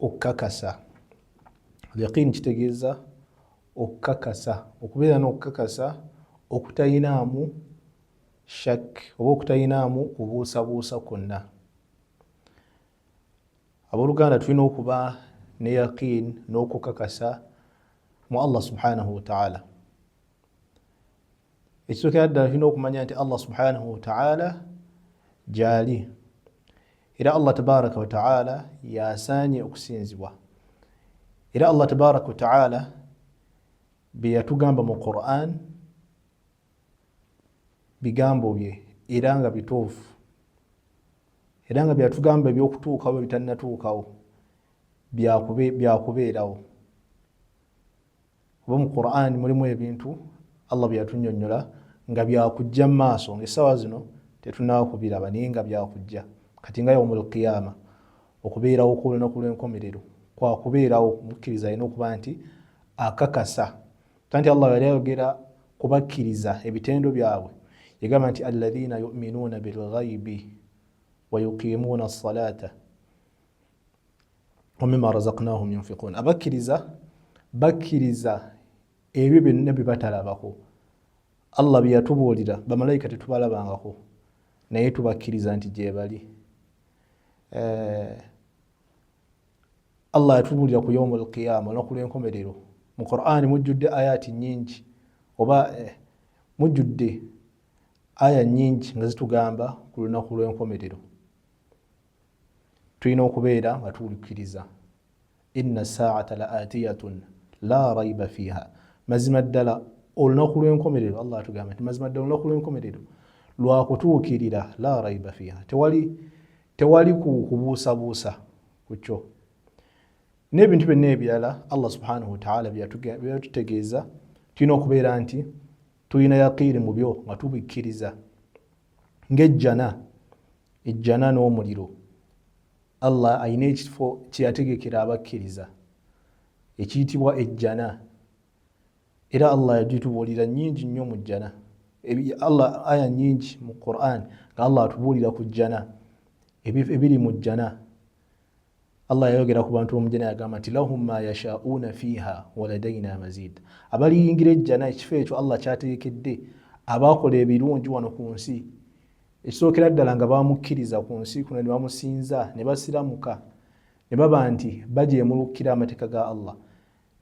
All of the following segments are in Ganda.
okukakasa yaqiini kitegeeza okukakasa okubeera n'okukakasa okutayinaamu shak oba okutayinaamu kubuusabuusa kwonna abooluganda tulina okuba ne yaqiini n'okukakasa mu allah subhanahu wataala ekisookera ddala tulina okumanya nti allah subhanahu wataala gyali era allah tabaraka wataala yasaanye okusinzibwa era allah tabaraka wataala byeyatugamba mu quran bigambo bye era nga bituufu era nga byatugamba ebyokutuukawo bitanatuukawo byakubeerawo oba mu qurani mulimu ebintu allah byeyatunyonyola nga byakujja mu maaso ngaesawa zino tetunawo kubiraba naye nga byakujja kati nga yaumu lqiyama okubeerawo kwolunaku lwenkomerero kwakubeerawo mukkiriza alina okuba nti akakasa ta nti allah yali ayogera kubakkiriza ebitendo byabwe yagamba nti alaina yuminuuna bilghaibi wayuqimuuna salata wamima razaknahum yunfikun abakkiriza bakkiriza ebyo byonna bye batalabako allah bye yatubuulira bamalayika tetubalabangako naye tubakkiriza nti gyebali eh, allah yatubuulira ku yaumu alqiyama olunaku lw'enkomerero mu qur'ani mujjudde ayaati nyingi oba eh, mujjudde aya nyingi nga zitugamba ku lunaku lw'enkomerero tulina okubeera nga tuwulikiriza inna saata la atiyatun la raiba fiha mazima ddala olunaku lwenkomerero allah atugamba nti mazima ddala olunaku lwenkomerero lwakutuukirira la raiba fiha tewali tewali kubuusabuusa ku kyo n'ebintu byonna ebirala allah subhanahu wataala byeyatutegeeza tulina okubeera nti tulina yaqiini mu byo nga tubikkiriza ng'ejjana ejjana n'omuliro allah alina ekifo kyeyategekera abakkiriza ekiyitibwa ejjana era allah yagitubuulira nyingi nnyo mu jjana allah aya nyingi mu quran nga allah atubuulira ku jjana ebiri mu jjana Allah yayogera ku bantu b'omujjana yagamba nti lahum ma yasha'una fiha waladaina mazid, abaliyingira ejjana ekifo ekyo Allah kyateekedde abaakola ebirungi wano ku nsi ekisookera ddala nga bamukkiriza ku nsi kuno ne bamusinza ne basiramuka ne baba nti bajeemulukira amateeka ga Allah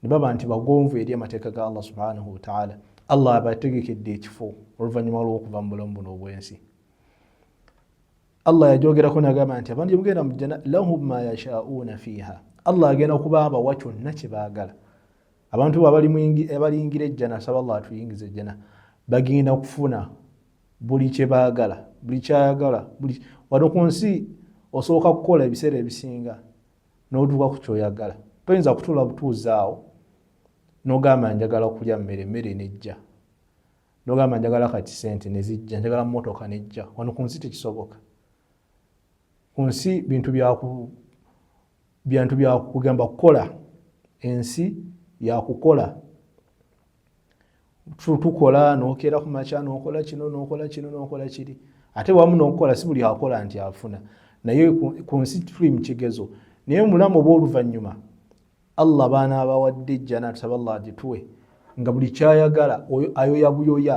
ne baba nti bagonvu eri amateeka ga Allah subhanahu wataala Allah abategekedde ekifo oluvannyuma lw'okuva mu bulamu buno obw'ensi Allah yagyogerako nagamba nti abantu gyemugenda mu jjana lahum ma yashauuna fiiha Allah agenda okuba abawa kyonna kye baagala abantu bo abaliyingira ejjana saba Allah atuyingiza ejjana bagenda kufuna buli kye baagala buli kyayagala wano ku nsi osooka kukola ebiseera ebisinga n'otuuka ku kyoyagala toyinza kutuula butuuzaawo nogamba njagala okulya mmere emmere nejja nogamba njagala kati sente nezijja njagala motoka nejja wano ku nsi tekisoboka ku nsi bintu byantu byakugamba kukola ensi yakukola tukola nokeera ku makya nokola kino nokola kino nokola kiri ate wamu nokukola si buli akola nti afuna naye ku nsi tuli mukigezo naye omulamu oba oluvannyuma allah baana abawadde ejjana tusaba allah agituwe nga buli kyayagala ayoya buyoya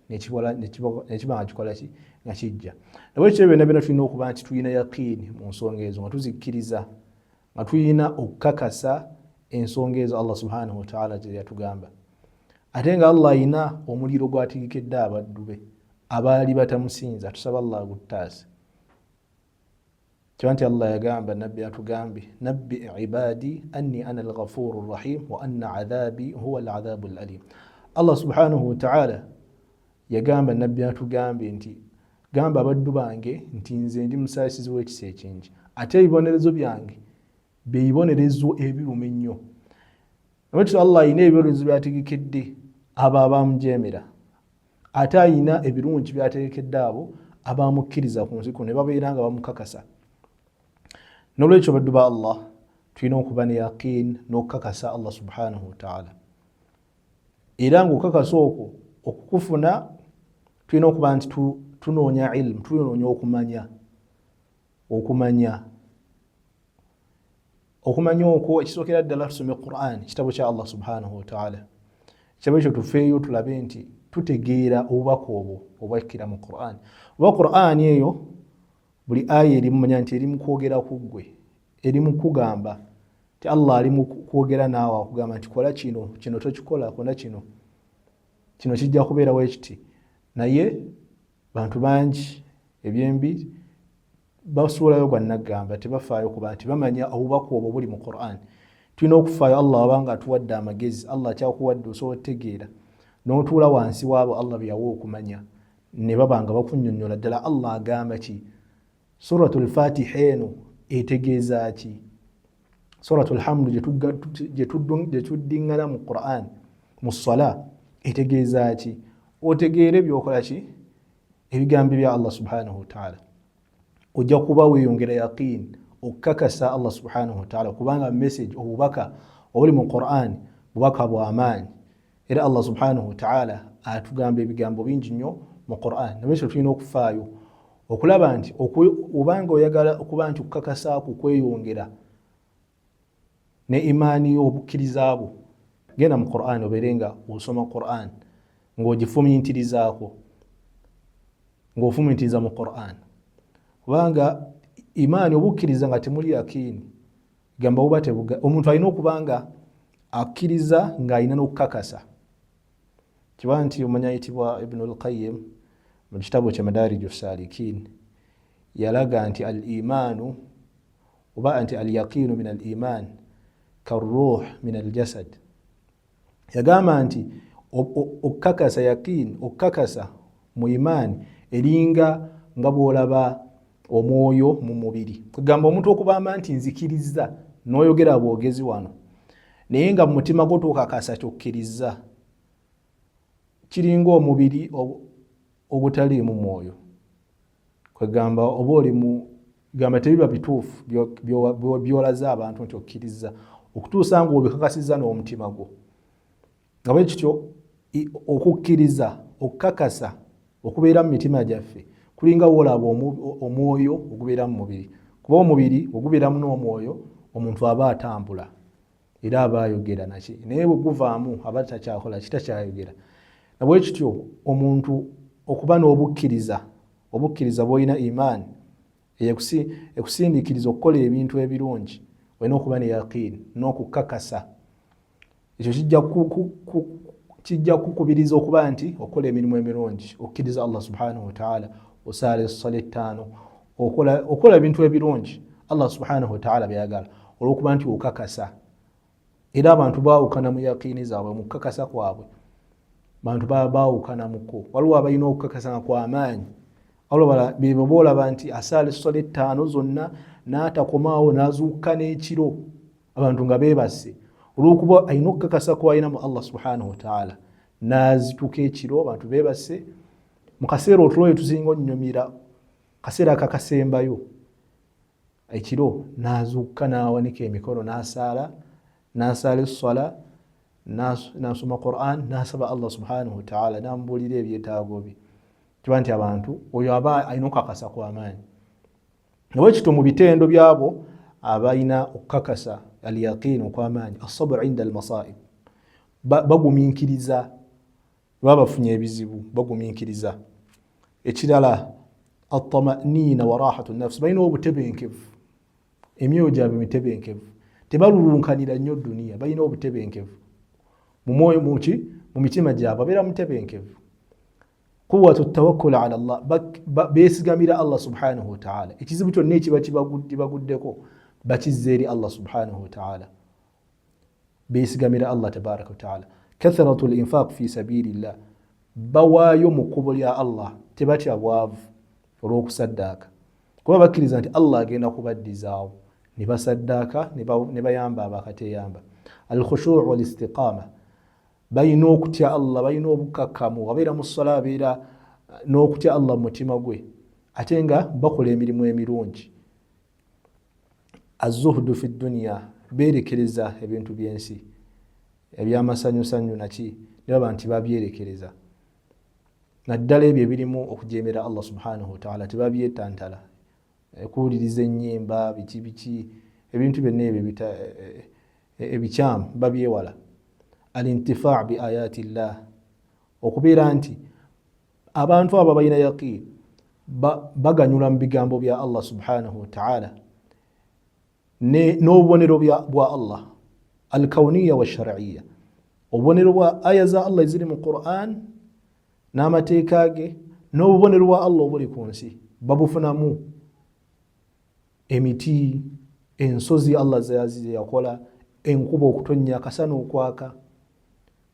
nekiba nga kikolaki nga kijja nabwekityo byonna byona tulina okuba nti tulina yaqiini mu nsonga ezo nga tuzikkiriza nga tulina okukakasa ensonga ezo allah subhanahu wataala gyeyatugamba ate nga allah ayina omuliro gwatigikedde abaddu be abaali batamusinza tusaba allah aguttaase kiba nti allah yagamba nabbi atugambye nabbi ibadi anni ana alghafuru rrahim wa anna adhabi huwa aladhabu alalim allah subhanahu wataala yagamba nabbi atugambye nti gamba abaddu bange nti nze ndi musaasizi w'ekisa ekingi ate ebibonerezo byange byebibonerezo ebiruma ennyo nolwekyo allah alina ebibonerezo byategekedde abo abamujemera ate ayina ebirungi byategekedde abo abamukkiriza ku nsi kuno ne babeera nga bamukakasa nolwekyo baddu ba allah tulina okuba ne yaqiin n'okukakasa allah subhanahu wataala era ngaokukakasa okwo okukufuna tulina okuba nti tunoonya ilmu tunoonya okumanya okumanya okumanya okwo ekisookera ddala tusome quran kitabo kya allah subhanahu wataala kitabo ekyo tufeeyo tulabe nti tutegeera obubaka obwo obwakkira mu quran oba quran eyo buli aya erimumanya nti eri mukwogera ku ggwe eri mukugamba ti allah ali mukwogera naawe akugamba nti kola kino kino tokikola kona kino kino kijja kubeerawo ekiti naye bantu bangi ebyembi basuulayo gwa naggamba tebafaayo kuba nti bamanya obubaka obwo buli mu quran tulina okufaayo allah wabanga atuwadde amagezi allah akyakuwadde osobola otegeera notuula wansi waabo allah byeyawa okumanya ne baba nga bakunyonyola ddala allah agamba ki suratu lfatiha eno etegeeza ki suratu lhamdu gyetuddiŋŋana mu quran mu sala etegeeza ki otegeere byokola ki ebigambo bya allah subhanahu wataala ojja kuba weyongera yaqiini okukakasa allah subhanahu wataala kubanga message obubaka obuli mu quran bubaka bwamaanyi era allah subhanahu wataala atugamba ebigambo bingi nnyo mu quran nabekyo tulina okufaayo okulaba nti obanga oyagala okuba nti okukakasa ku kweyongera ne imaani yo obukkiriza bwo genda mu quran obeere nga osoma quran ng'ogifumintirizaako ng'ofumintiriza mu quran kubanga imaani obukkiriza nga temuli yakiini gamba buba tebuga omuntu alina okuba nga akkiriza ng'alina n'okukakasa kiba nti omanya ayitibwa ibnu lqayim mu kitabo kya madariju salikin yalaga nti al imaanu oba nti al yaqiinu min al imaan karuuh min al jasad yagamba nti okukakasa yakiini okukakasa mu imaani eringa nga bwolaba omwoyo mu mubiri kwegamba omuntu okubamba nti nzikirizza noyogera bwogezi wano naye nga mumutima gwo twokakasa kyokkiriza kiringa omubiri ogutaliimu mwoyo kwegamba oba oli mu gamba tebiba bituufu byolaze abantu nti okkiriza okutuusa nga obikakasiza n'omutima gwo nga bwe kityo okukkiriza okukakasa okubeera mu mitima gyaffe kulinga woolaba omwoyo ogubeera mu mubiri kuba omubiri ogubeeramu n'omwoyo omuntu aba atambula era aba ayogera naki naye bwe guvaamu aba takyakola ki takyayogera nabwe kityo omuntu okuba n'obukkiriza obukkiriza bwolina imaani ekusindiikiriza okukola ebintu ebirungi olina okuba ne yaqiini n'okukakasa ekyo kijja kijja kukubiriza okuba nti okola emirimu emirungi okkiriza allah subhanahu wataala osaala essola ettaano okola ebintu ebirungi allah subhanahu wataala byayagala olwokuba nti okakasa era abantu bawukana mu yakiini zaabwe mu kukakasa kwabwe bantu baba bawukanamuko waliwo abalina okukakasa nga kwamaanyi alobala bebo boolaba nti asaala essola ettaano zonna n'atakomaawo n'azuukka n'ekiro abantu nga beebase olwokuba alina okukakasa kwalina mu allah subhanahu wataala n'azituka ekiro abantu beebase mu kaseera otulo ye tuzinga onnyumira kaseera kakasembayo ekiro nazuukka n'awanika emikono n'asaala n'asaala esswala nasoma quran nasaba allah subhanahu wataala namubuulira ebyetaago bye kiba nti abantu oyo aba alina okukakasa kwamaanyi nawe kito mu bitendo byabo abalina okukakasa alyaqiini okwamaanyi asabr inda almasaib baguminkiriza baba bafunye ebizibu bagumiikiriza ekirala atamaniina warahatu nafsi balina obutebenkevu emyoyo gyabwe mitebenkevu tebalulunkanira nnyo duniya balina obutebenkevu mumwoyo muki mu mitima gyabwe abeera mutebenkevu quwatu tawakkula ala llah besigamira allah subhanahu wataala ekizibu kyonna ekiba kibaguddeko bakizza eri allah subhanahu wataala besigamira allah tabaraka wataala kathratu linfaq fi sabilillah bawaayo mu kkubo lya allah tebatya bwavu olw'okusaddaaka kuba bakkiriza nti allah agenda kubaddizaawo ne basaddaaka ne bayamba abakateyamba alkhushuu walistiqaama balina okutya allah balina obukakkamu wabeera mu sola abeera n'okutya allah mu mutima gwe ate nga bakola emirimu emirungi azuhdu fi duniya beerekereza ebintu by'ensi ebyamasanyusanyu naki ne baba nti babyerekereza naddala ebyo ebirimu okujeemera allah subhanahu wataala tebabyetantala eh, kuwuliriza ennyimba biki biki ebintu byonna ebyo eh, eh, ebikyamu babyewala alintifaa bi ayati llah okubeera nti abantu abo abalina yaqiini baganyula mu bigambo bya allah subhanahu wataala n'obubonero bwa allah alkauniya washariya obubonero bwa aya za allah eziri mu quran n'amateeka ge n'obubonero bwa allah obuli ku nsi babufunamu emiti ensozi allah zeyakola enkuba okutonnya akasana okwaka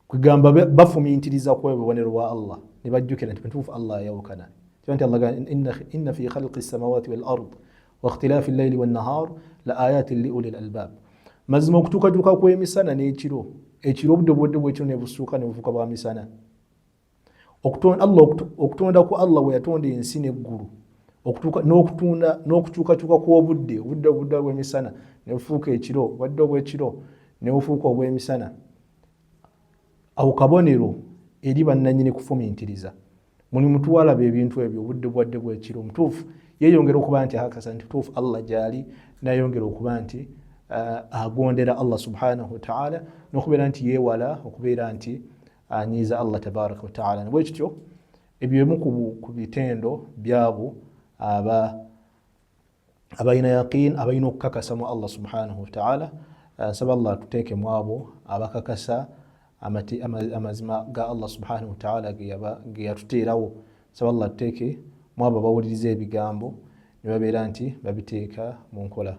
kwegamba bafumintiriza ku obubonero bwa allah ne bajjukira nti mutuufu allah ayawukana kiba nti allah inna fi khalqi samawati wal ard wa ikhtilafi llaili wannahar la ayatin li uli lalbab mazima okutuukajuuka kw'emisana n'ekiro ekiro obudde obudde bwekiro ne busuuka ne bufuuka bwa misana okutonda ku allah weyatonda ensi neggulu n'okutunda n'okukyukakyuka kw'obudde obudde obudde obw'emisana nebufuuka ekiro obadde obw'ekiro nebufuuka obw'emisana awo kabonero eri bannanyini kufumintiriza mulimu tuwalaba ebintu ebyo obudde bwadde bw'ekiro mutuufu yeyongera okuba nti akasa nti tuufu allah gyali nayongera okuba nti uh, agondera allah subhanahu wataala n'okubeera nti yeewala okubeera nti anyiiza allah tabaraka wataala nabwe kityo ebyo bimu ku bitendo byabo aba abalina yaqin abalina okukakasa mu allah subhanahu wataala nsaba allah atuteeke mu abo abakakasa amazima ga allah subhanahu wataala ge yatuteerawo nsaba allah atuteeke mu abo abawuliriza ebigambo ne babeera nti babiteeka mu nkola